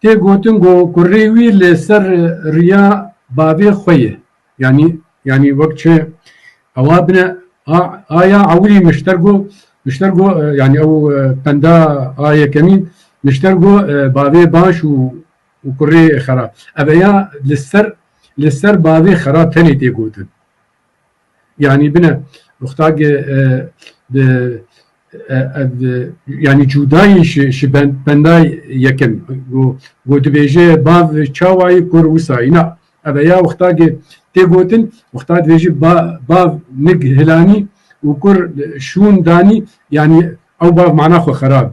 Tê gotin ku kurê wî li ser riya bavê xwe ye. Yanî yanî wek çi ewa bine aya ewilî nişter ku nişter ku yanî ew penda a yekemîn nişter ku bavê baş û û kurê xerab. Ev ya li ser li ser bavê xerab tenê tê gotin. Yanî bine muxtagê di yanî cûdayî ji bendayî yekem ku dibêje bav çawayî kur wisayî na eve ya muxtagê tê gotin muxta dibêje bav nig hilanî û kur şûn danî yanî ew bav mana xwe xerab.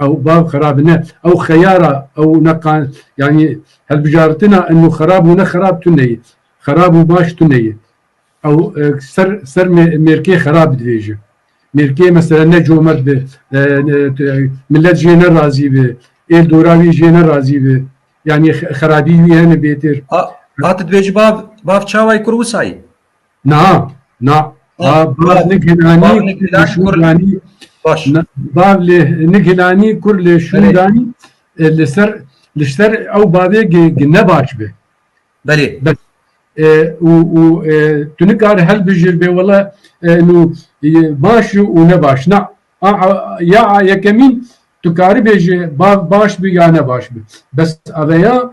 Ew bav xerab ne, ew xeyara ew ne qan yanî hilbijartina inu xerab û ne xerab tu neyê. Xerab û baş tu neyê. Ew ser ser mêrkê xerab dibêje. Mêrkê mesela ne comert be, milet jê ne razî be, êl dora wî jê ne razî be. Yanî xerabî wî hene bêtir. A, a tu dibêjî bav, bav çawayî kur wisayî. Na, na. Na, Ba- Bar na. Nigilani, Bar kur Nigilani, lê şûn kur- danî. Baş. Na, Bar lê Nigilani, kur lê şûn Belê. danî. E, Li ser li ser ew bavê gi- gi ne baş be. Belê. E, û û e, tu nikare hilbijêr bê wele e, nû e, baş û û ne baş. Na, a, a, ya a yekemîn tu karibê ji bav baş bi ya ne baş bi. Bes aveya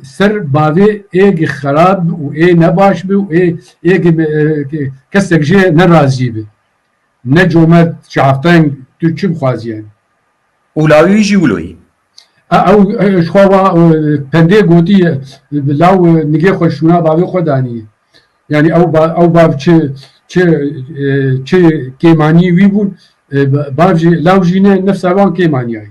Ser bavê êgî xerab bi û ê nebaş bi û ê êgî kesek jê ne razî bi. Ne comert çavteng tu çi bixwazî yen. Ûlawî jî wûloyî. Ew ji xwe wa pendê gotî ye. Bi law nigê xwe şûna bavê xwe danî ye. Yanî ew ew bav çi çi çi kêmanî wî bûn bav jî law jî ne nifsa wan kêmanîya ye.